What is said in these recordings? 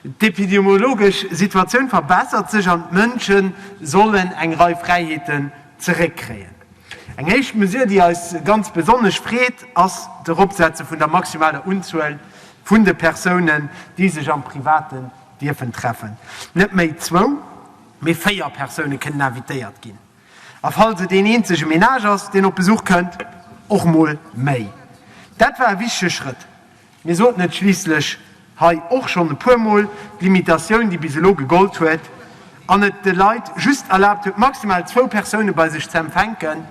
D'epidemiologesch Situatioun verbessert sech an d'Mënsche sollen eng Rei Fräiheeten zeréckkréien. Eng éischt Mesure, déi eis ganz besonnesch freet, ass d'Eropsetze vun der maximaler Unzuel vun de Persounen, déi sech am Privaten dierfen treffen. Net méi zwou, mee véier Persoune kënnen invitéiert ginn a falls et een eenzege Menage ass, deen op Besuch kënnt, och mol méi. Dat war e wichtege Schrëtt. Mir soten et schliisslech hei och schonn e puer Mol, D'Limitatioun, déi bis elo gegollt huet an et de Leit just erlaabt huet, maximal zwou Persoune bei sech ze empfänken,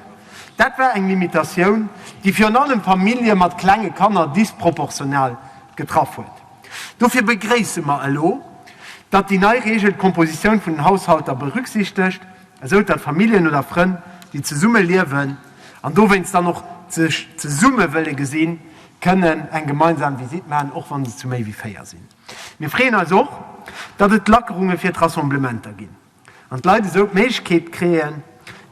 dat war eng Limitatioun, déi virun allem Famillje mat klenge Kanner disproportional getraff huet. Dofir begréisse mer elo, datt déi nei Reegel d'Compositioun vun den Haushalter berücksichtegt, esou datt Familljen oder Frënn, déi zesumme liewen an dowéinst dann och sech zesumme wëlle gesinn, kënnen eng gemeinsam Visitt maachen, och wann se zu méi wéi 4 sinn. Mir freeën eis och, datt et Lackerunge fir d'Rassemblementer ginn an d'Leit esou d'Méiglechkeet kréien,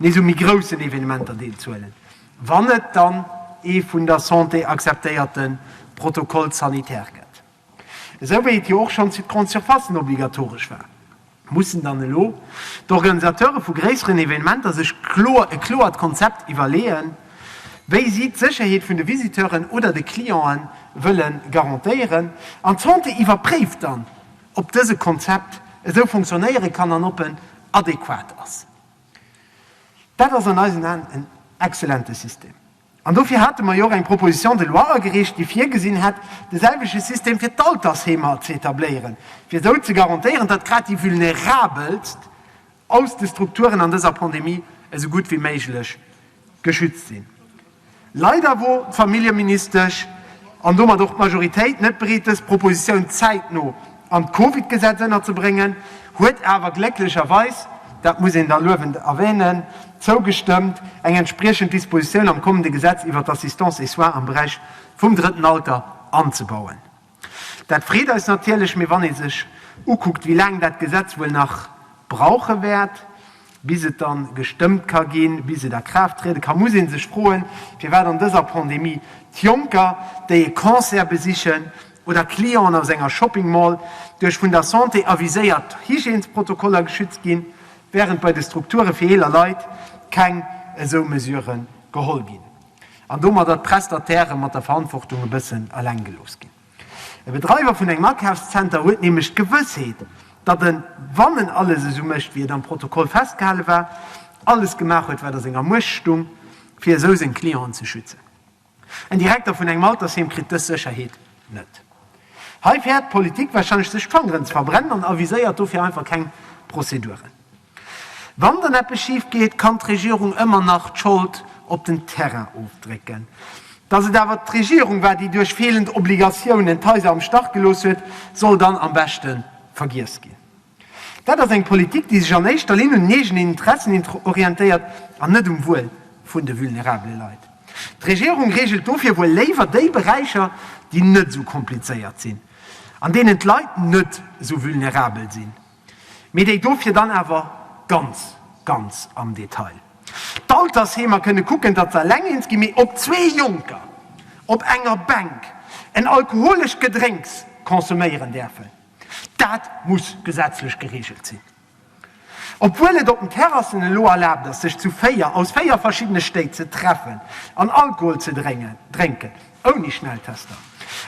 nees u méi groussen Evenementer deelzuhuelen, wann et dann ee vun der Santé akzeptéierte Protocole sanitaire gëtt. Esou wéi et jo och schonns fir d'Grandes surfaces obligatoresch war, mussen dann elo d'Organisateure vu gréisseren Evenementer sech e kloert Konzept iwwerleeën, wéi si d'Sécherheet vun de Visiteuren oder de Cliente wëlle garantéieren. An d'Santé iwwerpréift dann, ob dëse Konzept esou funktionéiere kann an ob en adequat ass. Dat ass an eisen Aen en excellente System. An dofir hate mer jo och eng Proposition de loi agereecht, déi virgesinn hätt, de selwechte System fir d'Altersheemer ze etabléieren, fir esou ze garantéieren, datt grad déi Vulnerabelst aus de Strukturen an dëser Pandemie esou gutt wéi méiglech geschützt sinn. Leider wor d'Familljeministesch an domat och d'Majoritéit net bereet, dës Proposition zäitno an d'Covid-Gesetz ënnerzebréngen, huet awer glécklecherweis, dat muss een da luewend erwänen, zougestëmmt, eng entspriechend Dispositioun am kommende Gesetz iwwert d'Assistance et soins am Beräich vum drëtten Alter anzebauen. Dat freet eis natierlech, mee wann ee sech ukuckt, wéi laang dat Gesetz wuel nach brauche wäert, Bis et dann gestëmmt ka ginn, bis et a Kraaft triede ka, muss ee sech froen, firwat an dëser Pandemie d'Jonker, déi e Concert besichen oder Clienten aus enger Shopping Mall, duerch vun der Santé aviséiert Hygiènesprotokoller geschützt ginn, während bei de Strukture fir eeler Leit keng esou Mesurë geholl ginn an domadder d'Prestatairë mat der Verantwortung e bëssen eleng gelooss ginn. E Bedreiwer vun engem Akafszenter huet nämlech d'Gewëssheet, datt en, wann en alles esou mécht, wéi et am Protokoll festgehale war, alles gemaach huet, wat a senger Muecht stung, fir esou seng Clienten ze schützen. En Direkter vun engem Altersheem kritt dës Sécherheet net. Hei fäert d'Politik warscheinlech, sech d'Fangeren ze verbrennen an aviséiert dofir einfach keng Prozeduren. Wann dann eppes schif geet, kann d'Regierung ëmmer nach d'Schold op den Terrain ofdrécken. Dass et awer d'Regierung war, déi duerch feelend Obligatiounen d'Haiser am Stach gelooss huet, soll dann am beschte vergiess ginn. Dat ass eng Politik, déi sech an éischter Linn un den eegenen Interessen orientéiert an net um Wuel vun de vulnerabele Leit. D'Regierung reegelt dofir wuel léiwer déi Beräicher, déi net esou komplizéiert sinn, an deenen d'Leit net esou vulnerabel sinn. Mee déi dofir dann awer ganz, ganz am Detail. D'Altersheemer kënne kucken, datt s'Alengeens gi mee op zwee Jonker op enger Bänk en alkoholescht Gedrénks consomméieren däerfen. Dat muss gesetzlech gereegelt sinn. Obwuel et op den Terrassen elo erlaabt ass, sech zu véier, aus véier verschiddene Stéit ze treffen an Alkohol ze drénken, Ouni Schnelltester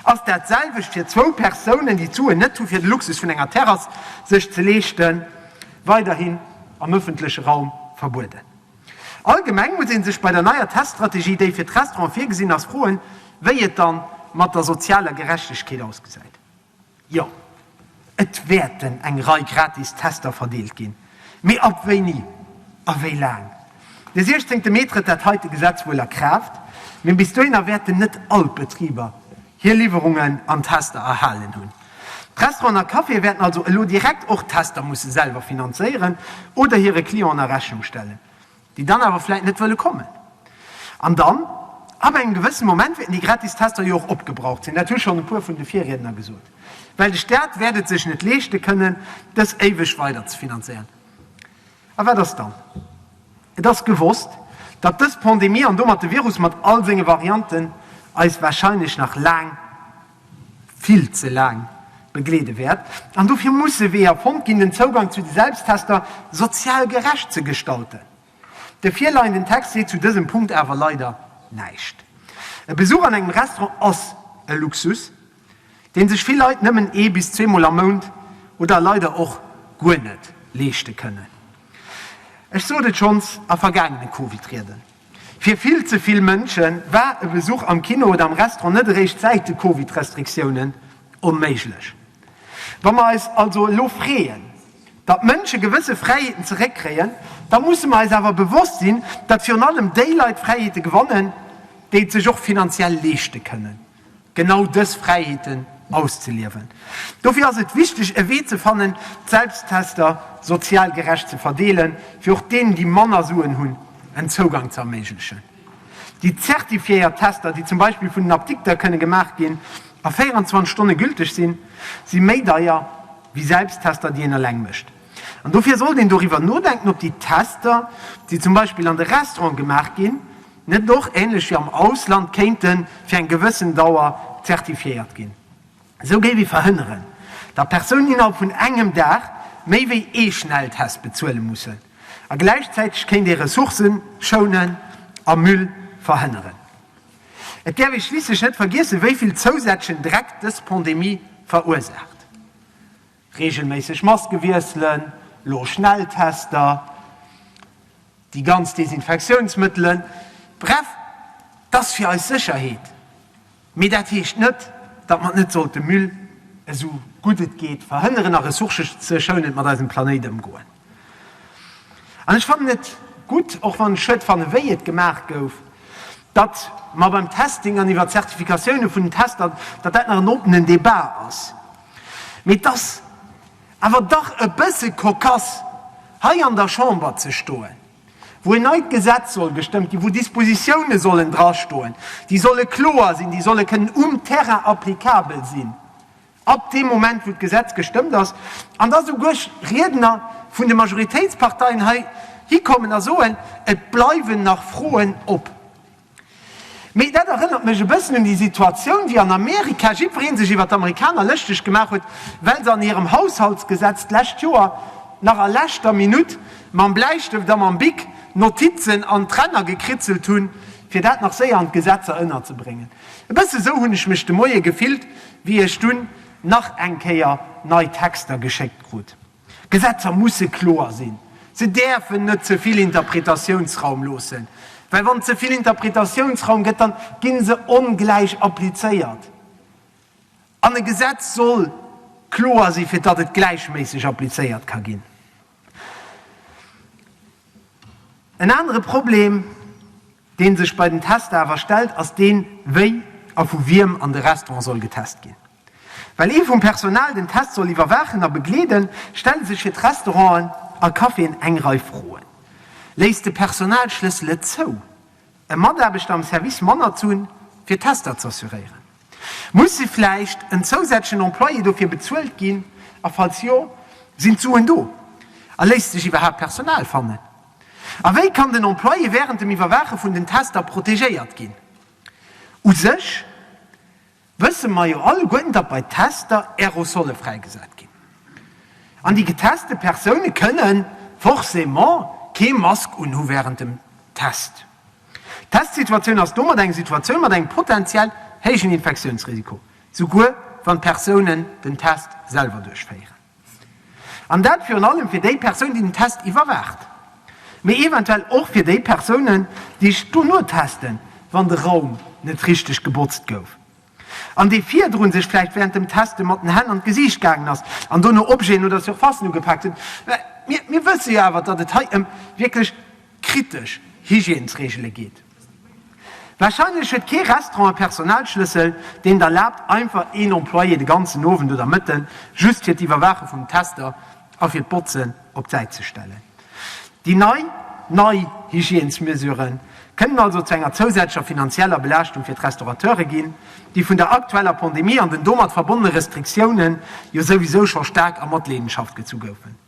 ass dat selwecht fir zwou Persounen, déi d'Suen net hu fir de Luxus vun enger Terrass sech ze leeschten, weiderhin am ëffentleche Raum verbueden. Allgemeng muss ee sech bei der neier Teststrategie, déi fir d'Restauranten virgesinn ass, froen, wéi et dann mat der sozialer Gerechtegkeet ausgesäit. Jo, et wäerten eng Rei gratis Tester verdeelt ginn. Mee ab wéini a wéi laang? De 16 Mee trëtt dat heite Gesetz wuel a Kraaft, mee bis dohinner wäerten net all d'Betriber hir Liwwerungen an Tester erhalen hunn. D'Restauranten a Caféë wäerten also elo direkt och d'Tester musse selwer finanzéieren oder hire Clienten a Rechnung stellen. déi dann awer vläit net wëlle kommen an dann ab engem gewëssem Moment wäerten déi gratis Tester jo och opgebraucht sinn, dat hu schonn e puer vun de Virriedner gesot, well de Staat wäert et sech net leeschte kënnen, dës éiweg weider ze finanzéieren. A wat ass dann? Et ass gewosst, datt dës Pandemie an domat de Virus mat all senge Varianten eis warscheinlech nach laang, vill ze laang begleede wäert an dofir musse Weeër fonnt ginn, den Zougang zu de Selbsttester sozial gerecht ze gestalten. De virleienden Text seet zu dësem Punkt awer leider näischt. E Besuch an engem Restaurant ass e Luxus, dee sech vill Leit nëmmen ee bis zweemol am Mount oder leider och guer net leeschte kënnen. Ech sot et schonns a vergaangene Covid-Rieden. Fir vill ze vill Mënsche war e Besuch am Kino oder am Restaurant net eréischt säit de Covid-Restriktiounen onméiglech. Wa mer eis also elo freeën, datt Mënsche gewësse Fräiheeten zeréckkréien, da musse mer eis awer bewosst sinn, datt virun allem déi Leit Fräiheete gewannen, déi et sech och finanziell leeschte kënnen. genau dës Fräiheeten auszeliewen. Dofir ass et wichteg, e Wee ze fannen, d'Selbsttester sozial gerecht ze verdeelen, fir och deenen, déi manner Suen hunn, en Zougang ze erméiglechen. Déi zertifiéiert Tester, déi zum Beispill vun den Apdikter kënne gemaach ginn a 24 Stonne gülteg sinn, si méi deier wéi Selbsttester, déi een eleng mécht. An dofir sollt een doriwwer nodenken, ob déi Tester, déi zum Beispill an de Restaurante gemaach ginn, net och, ähnlech wéi am Ausland, kéinte fir eng gewëssen Dauer zertifiéiert ginn. Esou géif ee verhënneren, datt Persounen innerhalb vun engem Dag méi wéi ee Schnelltest bezuele mussen. A gläichzäiteg kéint ee Ressourcë schounen a Müll verhënneren. Et däerf ee schliisslech net vergiessen, wéi vill zousätzlechen Dreck dës Pandemie verursaacht. Reegelméisseg Maske wiesselen, lo Schnelltester, déi ganz Desinfektiounsmëttelen, bref, et ass fir eis Sécherheet. Mee dat heescht net, datt mer et net sollte müll, esou gutt et geet, verhënneren a ressourceschounend mat eisem Planéit ëmgoen. An ech fannen et gutt, och wann ech Schued fanne wéi et gemaach gouf, datt mer beim Testing an iwwer d'Zertifikatioune vun den Tester, datt dat nach en oppenen Debat ass. Mee et ass awer dach e bësse cocasse, hei an der Chamber ze stoen, wou en neit Gesetz soll gestëmmt ginn, wou Dispositiounen sollen drastoen, déi solle kloer sinn, déi solle kënnen um Terrain applicabel sinn, ab deem Moment, wou d'Gesetz gestëmmt ass, an da souguer Riedner vun de Majoritéitsparteien hei hikommen a soen, et bleiwen nach Froen op. Mee dat erënnert mech e bëssen un déi Situatioun, wéi an Amerika jiddweree sech iwwer d'Amerikaner lëschteg gemaach huet, well se an hirem Haushaltsgesetz d'lescht Joer nach a leschter Minutt mam Bläistëft a mam Bic Notizen an d'Ränner gekritzelt hunn, fir dat nach séier an d'Gesetzer ënnerzebréngen. E bësse sou hunn ech mech de Moie gefillt, wéi ech dunn nach eng Kéier nei Texter geschéckt krut. Gesetzer musse kloer sinn. Se däerfen net ze vill Interpretatiounsraum loossen, well wann et ze vill Interpretatiounsraum gëtt, dann ginn se ongläich applizéiert. An e Gesetz soll kloer sinn, fir datt et gläichméisseg applizéiert ka ginn. En anere Problem, dee sech bei den Tester awer stellt, ass deen, wéi a vu wiem an de Restaurant soll getest ginn. Well ee vum Personal den Test soll iwwerwaachen a begleeden, stelle sech fir d'Restauranten a Caféen eng Rei Froen. Léisst de Personalschlëssel et zou, e Mataarbechter am Service manner ze hunn, fir d'Tester z'assuréieren? Musse vläicht en zousätzlechen Employé dofir bezuelt ginn, a falls jo, sinn d'Suen do? A léisst sech iwwerhaapt Personal fannen? A wéi kann den Employé wärend dem Iwwerwaache vun den Tester protegéiert ginn? U sech wësse mer jo alleguerten, datt bei Tester Aerosolle fräigesat ginn. An déi geteste Persoune kënne forcément kee Mask unhu wärend dem Test. D'Testsituatioun ass domat eng Situatioun mat engem potenziell héijen Infektiounsrisiko, souguer wann d'Persoune den Test selwer duerchféieren. An dat virun allem fir déi Persoun, déi den Test iwwerwaacht, mee eventuell och fir déi Persounen, déi sech dono testen, wann de Raum net richteg gebotzt gouf an dee virdrun sech vläicht wärend dem Teste mat den Hänn an d'Gesiicht gaangen ass an dono Objeten oder Surfacen ugepaakt huet. Mir wësse jo awer, datt et hei ëm wierklech kritesch Hygiènesreegele geet. Warscheinlech huet kee Restaurant e Personalschlëssel, deen et erlaabt, einfach een Employé de ganzen Owend oder Mëtten just fir d'Iwwerwaache vum Tester a fir d'Botzen op d'Säit ze stellen. Déi nei, nei Hygiènesmesurë kënnen also zu enger zousätzlecher finanzieller Belaaschtung fir d'Restaurateure ginn, déi vun der aktueller Pandemie an den domat verbonnene Restriktiounen jo souwisou scho staark a Matleedenschaft gezu goufen.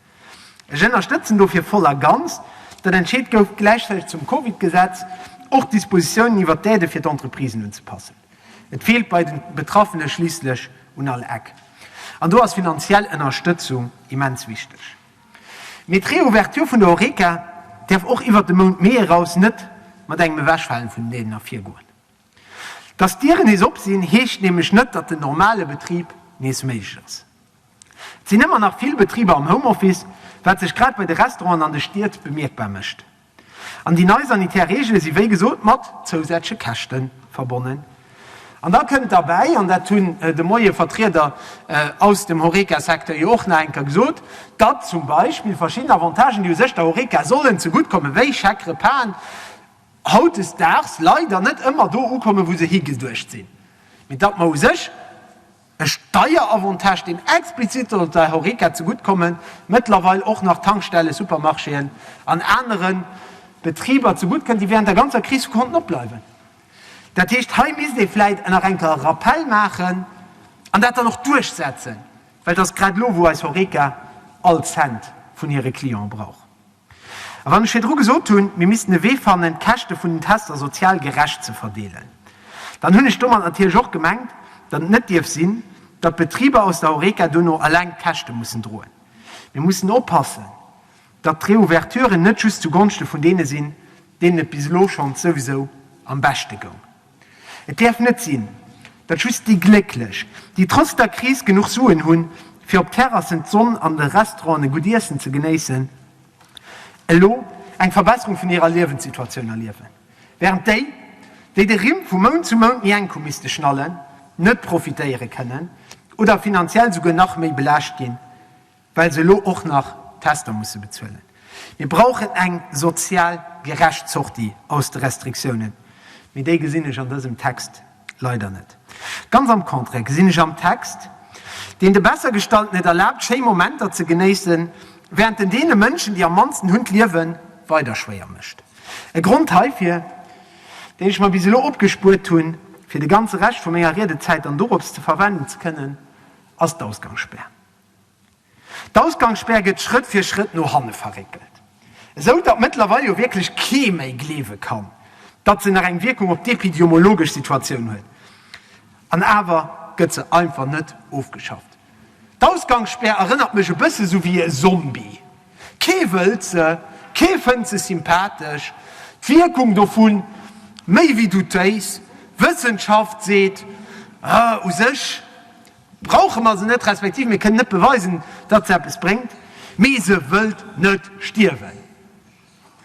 Ech ënnerstëtzen dofir voll a ganz, datt entscheet gouf, gläichzäiteg zum Covid-Gesetz och d'Dispositiounen iwwert d'Aidë fir d'Entreprisen unzepassen. Et feelt bei den Betraffene schliisslech un all Eck. An do ass finanziell Ënnerstëtzung immens wichteg. Mee d'Reouverture vun der Horeca däerf och iwwert de Mount Mee eraus net mat engem Ewechfalen vun den Aiden ervirgoen. Datt d'Dieren nees op sinn, heescht nämlech net, datt den normale Betrib nees méiglech ass. Et sinn ëmmer nach vill Betriber am Homeoffice, wat sech grad bei de Restauranten an de Stied bemierkbar mécht. An déi nei sanitär Reegele si wéi gesot mat zousätzleche Käschte verbonnen. An da kënnt derbäi, an dat hunn de Moie Vertrieder aus dem Horeca-Secteur jo och nach eng Kéier gesot, datt zum Beispill verschidden Avantagen, déi u sech der Horeca sollen zegutt kommen, wéi Chèque-repasen, hautdesdaags leider net ëmmer do ukommen, wou se higeduecht sinn, mee datt mer u sech, E Steieravantage, deen explizit soll der Horeca zegutt kommen, mëttlerweil och nach Tankstellen, Supermarchéen an anere Betriber zegutt kënnt, déi während der ganzer Kris konnten opbleiwen. Dat heescht, hei misst ee vläicht nach eng Kéier e Rappell maachen an dat dann och duerchsetzen, well et ass grad elo, wou eis Horeca all Cent vun hire Clienten brauch. A wann ech virdru gesot hunn, mir missten e Wee fannen, d'Käschte vun den Tester sozial gerecht ze verdeelen, dann hunn ech domat natierlech och gemengt, datt et net dierf sinn, datt d'Betriber aus der Horeca dono alleng d'Käschte mussen droen. Mir mussen oppassen, datt d'Reouverturen net just zu Gonschte vun deene sinn, deenen et bis elo schonns souwisou am beschte goung. Et däerf net sinn, datt just déi Glécklech, déi trotz der Kris genuch Suen hunn, fir op Terrassen d'Sonn an de Restauranten e gutt Iessen ze genéissen, elo eng Verbesserung vun hirer Liewenssituatioun erliewen, wärend déi, déi de Rimm vu Mount zu Mount méi enk hu misste schnallen, net profitéiere kënnen oder finanziell souguer nach méi belaascht ginn. well se elo och nach d'Tester musse bezuelen. Mir brauchen eng sozial gerecht Sortie aus de Restriktiounen, mee déi gesinn ech an dësem Text leider net. Ganz am Contraire gesinn ech am Text, deen de Bessergestallten et erlaabt, schéi Momenter ze genéissen, während en deene Mënschen, déi am mannsten hunn, d'Liewe weider schwéier mécht. E Grond heifir, deen ech mer bis elo opgespuert hu fir de ganze Rescht vu menger Riedezäit dann dorops ze verwenden ze kënnen, ass d'Ausgangsspär. D'Ausgangsspär gëtt Schrëtt fir Schrëtt no hanne verréckelt, esou datt mëttlerweil jo wierklech kee méi gleewe kann, datt se nach eng Wierkung op d'epidemiologesch Situatioun huet. An awer gëtt se einfach net ofgeschafft. D'Ausgangsspär erënnert mech e bësse sou wéi e Zombie, kee wëllt se, kee fënnt se sympathesch, d'Wierkung dovu méi wéi doutéis. Wëssenschaft seet, u sech brauche mer se net, respektiv mir kënnen net beweisen, datt se eppes bréngt, mee se wëllt net stierwen.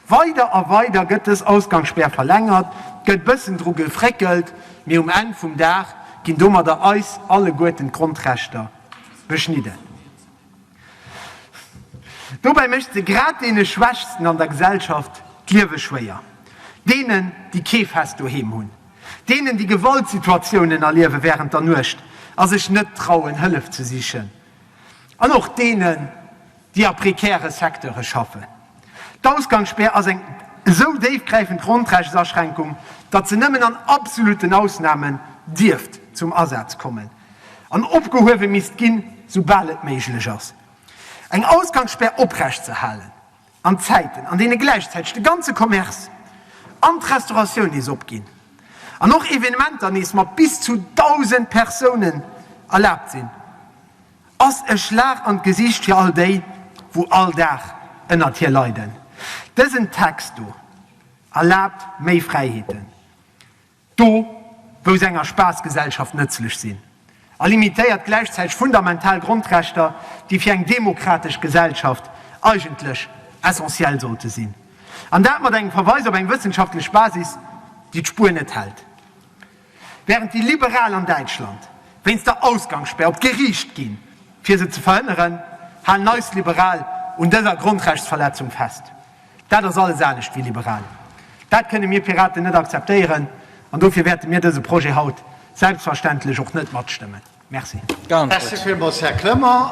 Weider a weider gëtt dës Ausgangsspär verlängert, gëtt bëssen dru gefréckelt, mee um Enn vum Dag ginn domadder eis alleguerten d'Grondrechter beschnidden. Dobäi mécht se grad deene Schwächsten an der Gesellschaft d'Liewe schwéier, deenen, déi kee fest Doheem hunn, deenen, déi Gewaltsituatiounen erliewe wärend der Nuecht a sech net trauen, Hëllef ze sichen, an och deenen, déi a prekäre Secteure schaffen. D'Ausgangsspär ass eng esou déifgräifend Grondrechtsaschränkung, datt se nëmmen an absolutten Ausnamen dierft zum Asaz kommen. an opgehuewe misst ginn, soubal et méiglech ass, eng Ausgangsspär oprecht ze halen an Zäiten, an deene gläichzäiteg de ganze Commerce an d'Restauratioun nees opginn an och Evenementer nees mat bis zu 1.000 Persounen erlaabt sinn, ass e Schlag an d'Gesicht fir all déi, wou all Dag ënnert hir leiden. Dësen Text do erlaabt méi Fräiheeten. Do, wou se enger Spaassgesellschaft nëtzlech sinn, a limitéiert gläichzäiteg fundamental Grondrechter, déi fir eng demokratesch Gesellschaft eigentlech essentiell sollte sinn. An dat mat engem Verweis op eng wëssenschaftlech Basis, déi d'Spuer net hält. Während déi Liberal an Däitschland wéinst der Ausgangsspär op d'Geriicht ginn, fir se ze verhënneren, halen eis Liberal un dëser Grondrechtsverletzung fest. Dat ass alles anescht wéi liberal. Dat kënne mir Piraten net akzeptéieren an dofir wäerte mir dëse Projet haut selbstverständlech och net matstëmmen. Merci. Merci villmools, Här Clement.